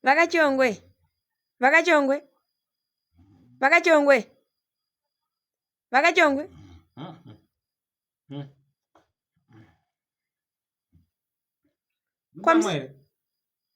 vakachongwe vakachongwe vakachongwe vakachongwe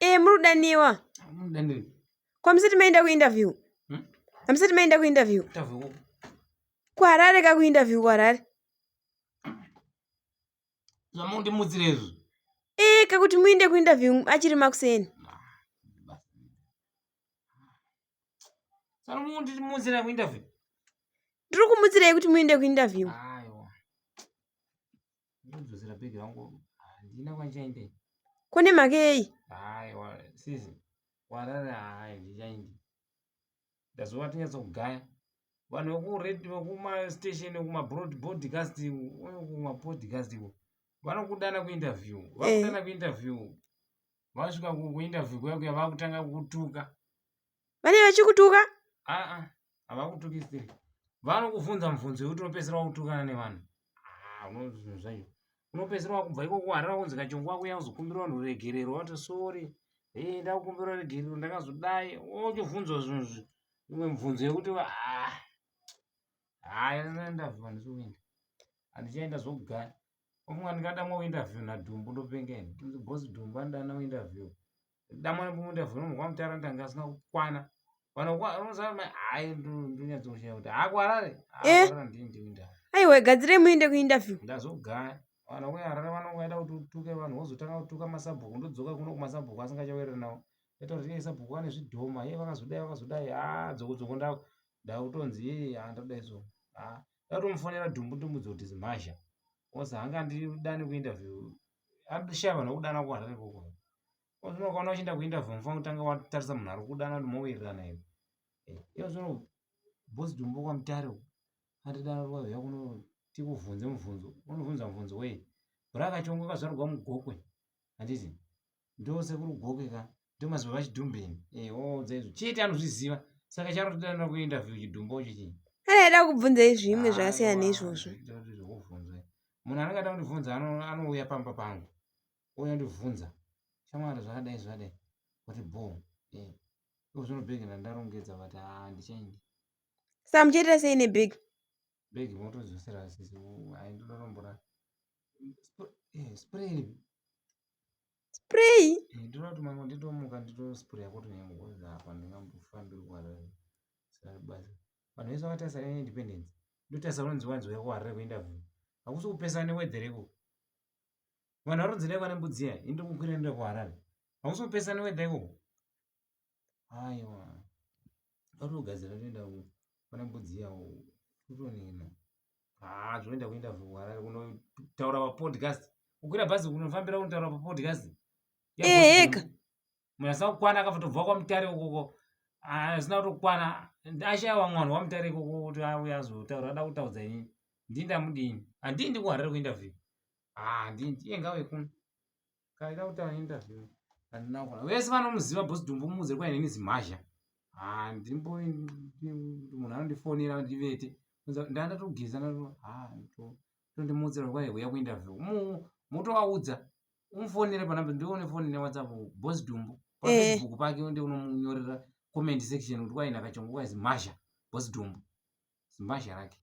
ee muri kudaniwa kwamusati maenda kuinterview hamusati hmm? maenda kuinterview kuharare kakuinterview kuharare zvamundimutsira izvi ee kakuti muinde kuinterview achiri makuseni saka mundimutsira kuinterview ndiri kumutsirei kuti muinde kuinterview kune mhaka yei aiwa sisi warara hai ndichaindi ndazova tinyatso kugaya vanhu vekuredio vekumastation kumabroadcast kumapodcast iko vanokudana kuinterview eh. vakudana kuinterview vasvika kuinterview kuya kuya vakutanga kukutuka vane vachikutuka aa havakutukisiri vanokuvhunza mubvunzo yekuti unopedzisira wakutukana nevanhu ah, unoona zvinhu zvacho unopedzisira wakubva ikoko warara kunzi kachongo wako yakuzokumbira vanhu ruregerero wati sori e eh, ndakukumbira ruregerero ndakazodai wochovhunzwa zvinhu zvi imwe mibvunzo yekuti ah, haya ndavhiwa ndisiuinda handichaenda zvokugara ofunga ndingadamwa uinterview nadhumbu ndopenga ini kunzi bosi dhumbu andana uinterview damwana pamunda vhinomu kwamutara ndanga asina kukwana eh. aiwa gadzirei muende kuinterview ndazogaya vana kuharare vanongoenda kuti utuke vanhu vozotanga kutuka masabhuku ndodzoka kuno kumasabhuku asingachawereri nawo ita kuti iye sabhuku ane zvidhoma iye vakazodai vakazodai ha dzokodzoko ndakutonzi handoda izvo ha ndatomufonera dumbu dumbu dzoti zimhazha kozi hanga andidani kuinterview andishava nokudana kuharare koko ozvino ukaona uchienda kuinterview mufana kutanga watarisa munhu ari kudana kuti mowirirana iwe eh, iyo zvino bosi dumbu kwamutare uku andidana rwauya kuno tikuvhunze mubvunzo unobvunza mubvunzo wei bhura kachongo kazvarwa mugokwe handiti ndo sekuru goke ka ndo mazibaba chidhumbeni eh oudza izvo chete anozviziva saka chanotoda na ku interview chidhumbo icho chii kana aida kubvunza izvimwe ah, zvakasiyana neizvozvo munhu anenge ada kundibvunza anouya pamba pangu ouya ndibvunza shamwari zvakadai zvakadai kuti bo eh, iko zvinobhegena ndarongedza vati handichaindi ah, sa muchaita sei nebhegi bag motodzosera sisi hai ndinotombora eh, spray spray eh, ndinoda kuti mamwe nditomuka nditospray yako tonyangoza apa ndingambofambiri kuharare sari basa vanhu vese vakatarisa neindependence ndotarisa unonzi wanzi uya kuharare kuinterview hakusi kupesana newedhere ikoko vanhu varonzi dai vane mbudzi iya indikukwira ndoda kuharare hakusi kupesana newedha ikoko aiwa arikugadzira toenda pana mbudzi yawo kutonena haa zvoenda kuenda kuharare kunotaura papodcast kukwira bhazi kunofambira kunotaura papodcast eheka eh, munasa kukwana akafatobva kwamutare ukoko hazina ah, kutokwana ashaiwa mwana wamutare ikoko kuti auya azotaura ada kutaudza inini ndii ndamudini handii ndikuharare kuinterview handii ah, ndiye ngawekuno kaida kutaura interview handina kukona vese vanomuziva bosi dumbu mudze kwai neni zimhazha handimbo munhu anondifonera ndivete ndandatogeza tondimudzira kwai huya kuinterview motovaudza umufonere panamba ndione foni newhatsapp bosi dumbu pafacebook eh. pake nde unomunyorera comment section kuti kwai ndakachongo kwai zimhazha bosi dumbu zimhazha rake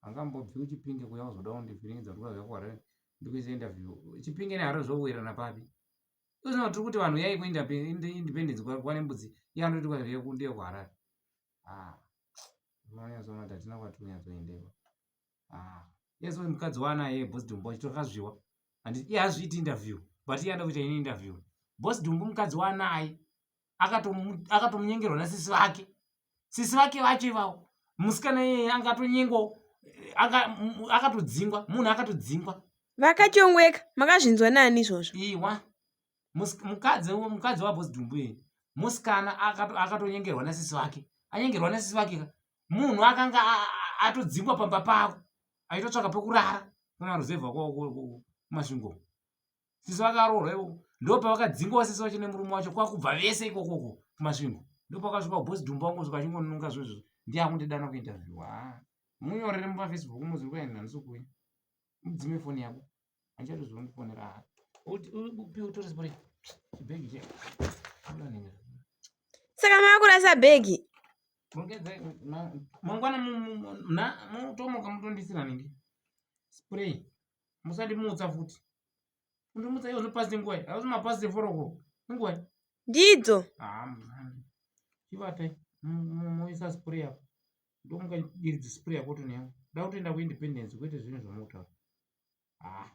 angambobvi kuchipinge kuya uzoda kundivhiringidza kuti ukaziva kuharare ndikuise interview chipinge neharare zvokuwirana papi usina kuti tiri kuti vanhu yai kuindependence kwane mbudzi iye anoti ndiye kuharare ah, unonyatsoona kuti hatina kwati kunyatsoendewa ah, yes uyu mukadzi waanaye bos dumbu achitorikazviwa and iye hazviiti interview but iye anoda kuita ini interview bos dumbu mukadzi waanaye akatomnyengerwa nasisi vake sisi vake vacho ivawo musikana iyeye anga atonyengwawo akatodzingwa munhu akatodzingwa vakachongweka makazvinzwa nani izvozvo iwa mukadzi mukadzi wabosi dumbu ye musikana akatonyengerwa nasisi vake anyengerwa nasisi vake ka munhu akanga atodzingwa pamba pako aitotsvaka pekurara kumaruzevha kumasvingo sisi vakaroorwa ikoko ndopavakadzingowa sisi vacho nemurume wacho kwakubva vese ikokoko kumasvingo ndopakasvika ubosi dhumba wangu zvika chingonunga zvezvo ndiye akundidana kuinterview ha munyorere mupafacebook muzvi kuenda handisi kuuya mudzime foni yako handichatozviva mukufonera ha upi utore zibore chibhegi che ulanengera saka maakurasa bhegi mangwana mutomoka mutondisira nenge spray musandimutsa futi kundimutsa iwo zvopasi nguwa akuti mapasi eforoko inguwa ndidzo chivatai moisa spray apo ndomuka diridzi spray yako toneya da kutoenda kuindependence kwete zvinhu zvamotaura haa ah.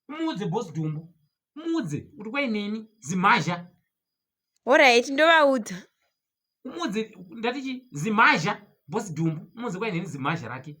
muudze bosi dumbu muudze kuti kwai neni zimhazha horaiti ndovaudza muudze ndatichi zimhazha bosi dumbu muudze kwai neni zimhazha rake